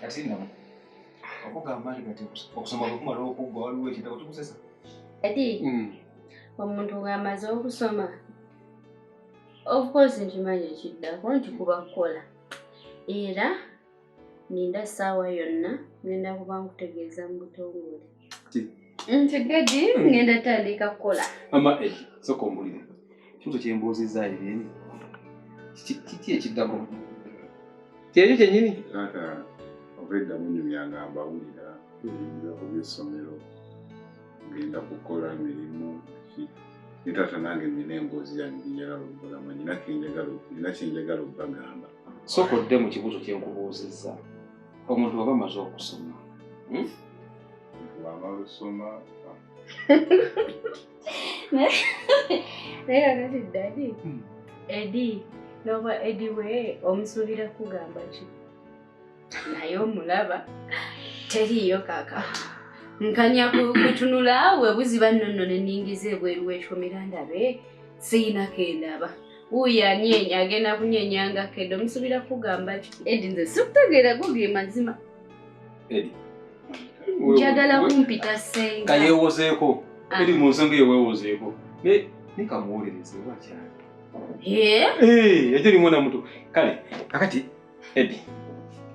kati no okugamba nti kati okusoma kwekumala okuggwa waliwo ekitabo tukusesa kati omuntu bw'amaze okusoma of course nkimanyi ekiddako nti kuba kukola era ninda saawa yonna ngenda kuba nkutegeeza mu butongole nti gadi hmm. ngenda tandika kukola ama eh, soka omuliro kintu kyembuuzizza ebyeni kiki ekiddako kyekyo kyenyini taata obeddamu nyumyangamba wulira hmm. ebyessomero ngenda kukola mirimu ki ne taata nange nina emboozi yange gyenjagala okugulamu nina kenjagala nina kyenjagala okubagamba sooka odde mu kibuuzo kye nkubuuzizza omuntu waba amaze okusoma hmm? wamala osoma naye kakati dadi hmm. edi noba edi we omusuubira kugamba ki naye omulaba teriiyo kaka nkanya kutunula awe buziba nonno neningiza ebweru wekyomera ndabe siyina kendaba wuyo anyenya agenda kunyenya nga kede omusubira kugamba ki edi nze sikutegeera goge mazima njagala kumpita senga kayewozeeko ah. edi mu nsonga eyo wewozeeko naye nikamuwolereze oba kyali ekyo limwonamutu kale kakati Eddie,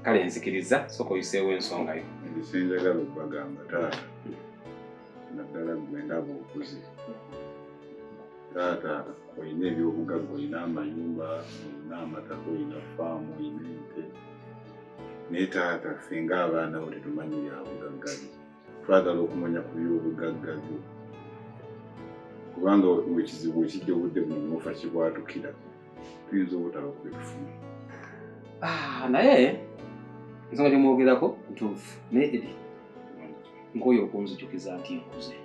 kale nzikiriza sooka oyiseewo ensonga yo. Nze njagala okubagamba taata naddala gwe ndaba okuze taata olina ebyobugagga olina amayumba olina amataka olina faamu olina ente naye taata ffe ng'abaana bo tetumanyi byabugagga byo twagala okumanya ku byobugagga byo kubanga ekizibu ekijja obudde buno nofa kibwatukira tuyinza obutaba kubitufuna ah, naye nsonga gyemwogerako ntuufu naye edi nkooyo okunzijukiza nti nkuze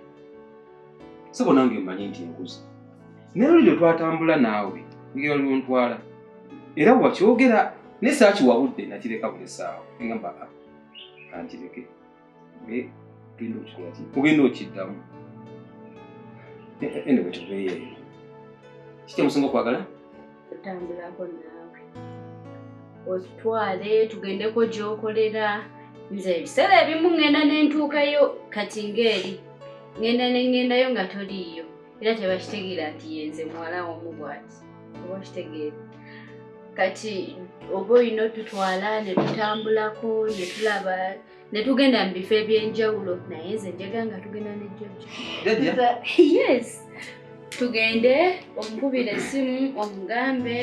sebo nange mmanyi nti nkuze naye oli lwe twatambula naawe ngeri oli ontwala era wakyogera naye saakiwabudde nakireka buli saawa engamba ah, kankireke naye genda okikola ki ogenda okiddamu ene wetuveeyo eyo kiki musinga okwagala tutambulako naawe otutwale tugendeko gyokolera nze ebiseera ebimu ŋŋenda nentuukayo kati ng'eri ŋŋenda ne ŋŋendayo nga toliiyo era tebakitegeera nti yenze muwala womu bwati oba kitegeera kati oba olina otutwala ne tutambulako ne tulaba ne tugenda mu bifo eby'enjawulo naye nze njaga nga tugenda ne jjajja yes tugende omukubira essimu omugambe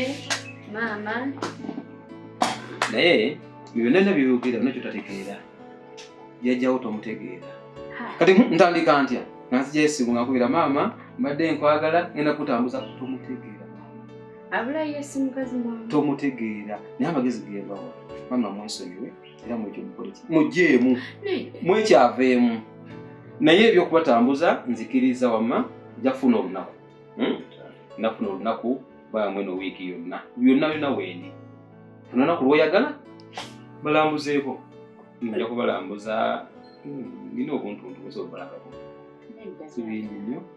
maama naye byonna na byeyogera bina kyotategeera jajjawo tomutegeera kati ntandika ntya nanzija esimu nga nkubira maama mbadde nkwagala ngenda kutambuza tomutegeera abulayo esimu kazi tomutegeera naye amagezi geebawa maama mwesonyiwe era mwekyo mukoleki mugyeemu mwekyaveemu naye ebyokubatambuza nzikiriza wamma jafuna olunaku hmm? nafuna olunaku bamwe no wiiki yonna yonna yonna wendi funa naku lwoyagala balambuzeeko nja kubalambuza hmm, nina obuntuntu busobola kibingi nnyo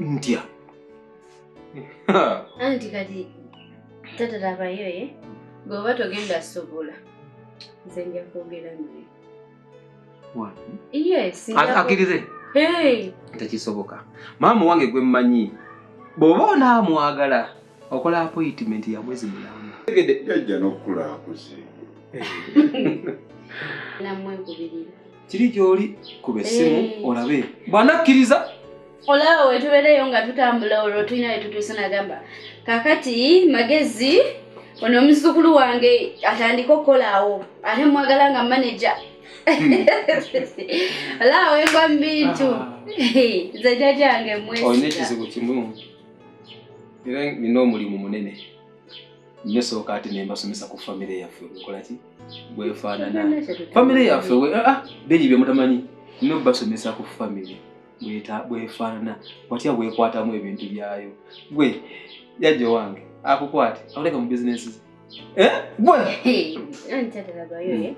ntya anti kati tata labayo ye eh? bweoba togenda sobola nze nja kwogera naye akirize tekisoboka maama wange gwe mmanyi bw'oba onaamwagala okola apoyitimenti ya mwezi mulamba jajja n'okukula akuze nammwe kubirira kiri gy'oli kuba essimu eh. olabe bw'anakkiriza olaba we tubeereyo nga tutambula olwo tulina we tutuuse nagamba kakati magezi ono omuzzukulu wange atandika okukolaawo ate mwagala nga maneja hmm. olaba wengwa mu bintu ah. nze jajange mwesa olina ekizibu kimu era nina omulimu munene nyo sooka ate nembasomesa ku famire yaffe nkola ki bwefaanana famire yaffe ah, ah, biri byemutamanyi no basomesa ku famire bwefaanana watya bwekwatamu ebintu byayo gwe jajja owange akukwate akuleka mu bizinesi eh? gwe hmm. eh?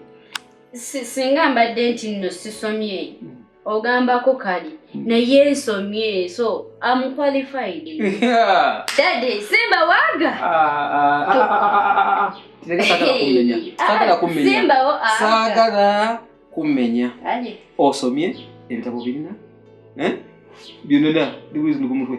singa mbadde nti nno sisomye hmm. ogambako kali naye ensomye eso am qualified dade simba waga sagala kumenya osomye ebitabo birina byonona ndiwezi ndi ku mutwe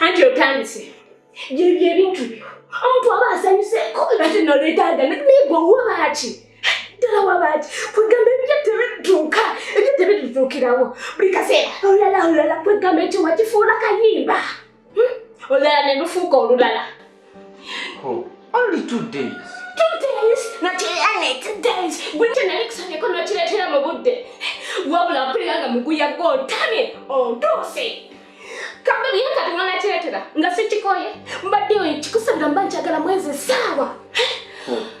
anti otandise gyebyo ebintu byo omuntu aba asanyuseeko ate noletaaga naye gwe wabaaki ddala wabaaki kwegamba ebyo tebituuka ebyo tebitutuukirawo buli kaseera olala olala kwegamba ekyo wakifuula kayimba olulala nelufuuka olulala oh, only two days two days notianet days gwete nalikusanyeko nokiretera mu budde wabula mpulira nga muguya gwotamye ontuuse kambe bye kati mwanakiretera nga sikikoye mbadde kikusabira mba njagala mwezi saawa oh.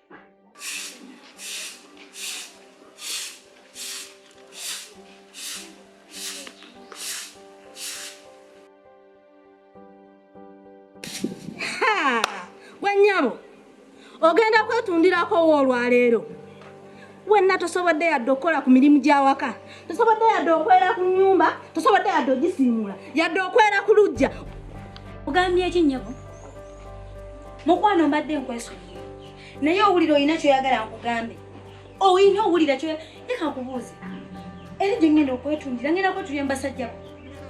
ogenda kwetundirako wo olwaleero wenna tosobodde yadde okukola ku mirimu gy'awaka tosobodde yadde okwera ku nyumba tosobodde yadde ogisiimuula yadde okwera ku lujja ogambye eki nnyabo mukwano mbadde nkwesonyi naye owulira olina kyoyagala nkugambe olina owulira kyo leka nkubuuze eri gye ngenda okwetundira ngenda kwetundira mu basajja bo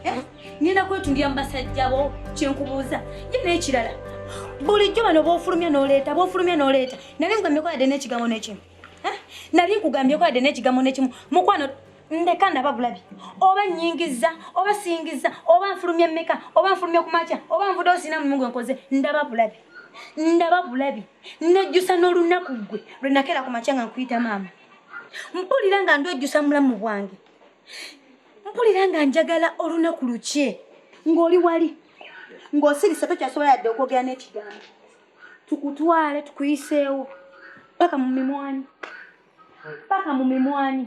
eh? ngenda kwetundira mu basajja bo kyenkubuuza ye n'ekirala bulijjo bano bofulumya n'oleeta bofulumya n'oleeta nali ngameko yadde n'ekigambo n'ekimu Eh, nali nkugambyeko yadde n'ekigambo n'ekimu mukwano ndeka ndaba bulabi oba nyingiza oba singiza oba nfulumya mmeka oba nfulumya ku makya oba nvude osina mumu gwe nkoze ndaba bulabi ndaba bulabi nejjusa n'olunaku ggwe lwe nakeera ku makya nga nkuyita maama mpulira nga ndwejjusa mulamu bwange mpulira nga njagala olunaku lukye ng'oli wali ng'osirise tokyasobola yadde okwogera n'ekigambo tukutwale tukuyiseewo paka mu mimwanyi paka mu mimwanyi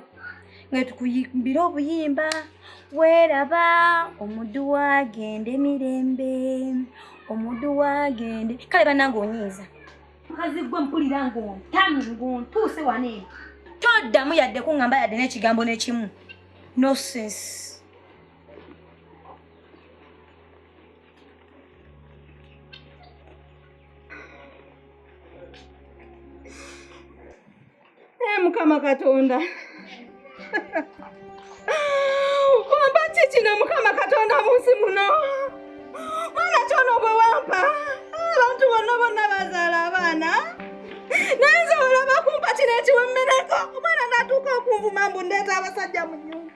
nga tukuyimbira obuyimba weeraba omuddu wagende mirembe omuddu wagende kale banange onyiiza mukazi gwe mpulira ngontami ngontuuse wana eno toddamu yadde kuŋŋamba yadde n'ekigambo n'ekimu nosense Eh, mukama katonda wampa ki kino mukama katonda munsi muno mwana kyono bwe wampa abantu bonna bonna bazaala abaana naye nze olaba kumpa kino ekiwemmeneko omwana natuuka okunvuma mbu ndeeta abasajja mu nyumba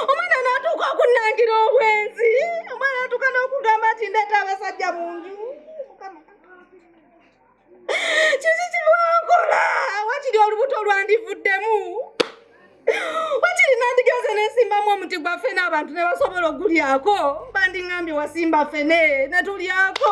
omwana natuuka okunangira obwenzi omwana natuuka n'okugamba nti ndeeta abasajja mu nju kiki kibwankola wakiri olubuto lwandivuddemu wakiri nandigenze nesimbamu omuti gwa fene abantu ne basobola ogulyako bandingambye wasimba fene ne tulyako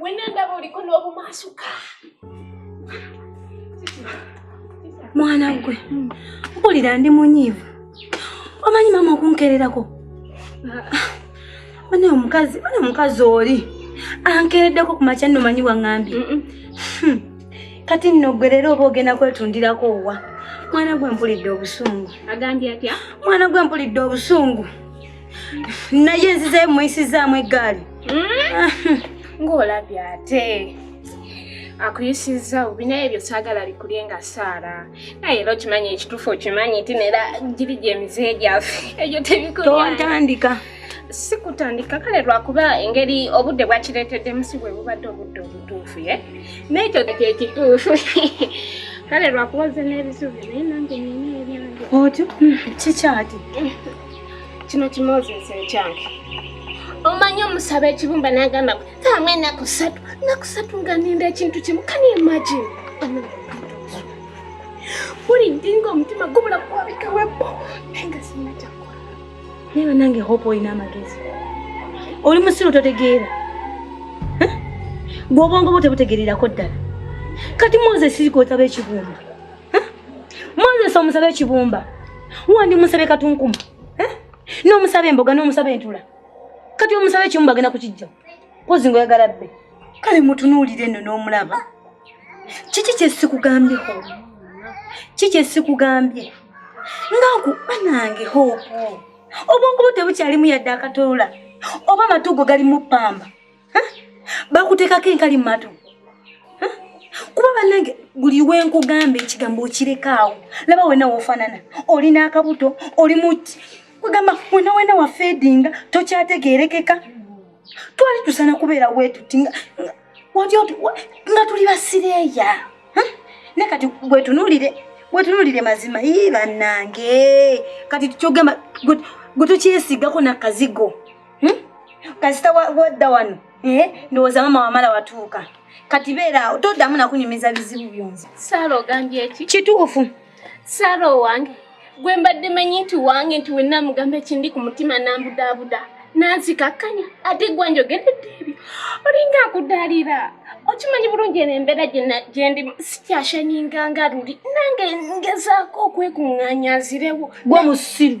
Wena ndaba oliko n'obumaasuka. Mwana gwe, mpulira ndi munyiivu. Omanyi maama okunkererako? Bane omukazi, bane omukazi oli. Ankereddeko ku makya nno manyi wang'ambye. Hmm. Kati nno gwe leero oba ogenda kwetundirako owa. Mwana gwe mpulidde obusungu. Agambye atya? Mwana gwe mpulidde obusungu. naye nzizeyo muyisizaamu eggaali hmm? ng'olabye ate akuyisizza bubi naye ebyo saagala bikulye nga saara naye era okimanyi ekituufu okimanyi nti nera giri gyemize gyaffe ebyo tebikontandika si kutandika kale lwakuba engeri obudde bwakireeteddemu si bwe bubadde obudde obutuufu ye naekyo kyekituufu kale lwakuba ze n'ebisubi naye nange nina ebyange otyo kikyati kino kimozesa ekyange omanyi omusaba ekibumba nagamba tamu enaku satu naku satu nga ninda ekintu kimu kani imagine buli ndinga omutima gubula kwabika webo nenga sina kyakola naye banange hope olina amagezi oli musiru totegeera gwobwongo bwo tebutegererako ddala kati moses kotaba ekibumba moses omusaba ekibumba wandi musabe katunkuma eh? nomusaba emboga nomusaba entula kati omusaba ekibumba agenda kukijja pozi nga oyagala bbe kale mutunuulire nno n'omulaba kiki kyesikugambye ho ki kyesikugambye nga nku banange hoopu obwongo bwo tebukyalimu yadde akatoola oba amatuugo galimu ppamba bakuteekako enkali mu matu kuba banange buli wenkugamba ekigambo okirekaawo laba wena wofanana olina akabuto oli muti kugamba wena wena wafeedinga tokyategerekeka twali tusana kubeera wetuti nga tuli basireeya ne kati gwetunulire gwetunulire mazima ii banange kati kyogamba gwe tokyesigako nakazigo hmm? kasita wadda wano eh, ndowooza mama wamala watuuka kati beeraawo toddamu nakunyumiza bizibu byonzi saala ogambye eki kituufu saala owange gwe mbadde manyi nti wange nti wenna mugamba ekindi ku mutima nambudaabuda nanzikakkanya ate gwa njogeredde ebyo olinga akudaalira okimanyi bulungi eno embeera gyendi sikyashaninganga luli nange ngezaako okwekuŋŋanyazirewo gwe musiru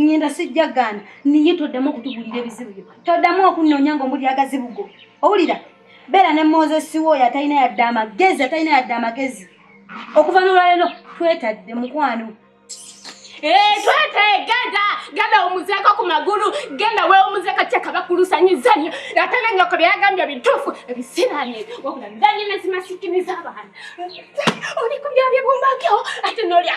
ngenda sijja gaana niye toddamu okutugulira ebizibu byo toddamu okunnoonya nga omuli agazibu go owulira beera ne mozesi wo oyo atalina yadde amagezi atalina yadde amagezi okuva nolwalero twetadde mukwano eh, twetegeda genda omuzeko ku magulu genda weomuzeko kyekabakulusanyizanyo ate nanyoko byeyagambye bitufu ebisirani wabula ndanyina zimasikini zabaana oli kubyabyebumbakeo ate nolya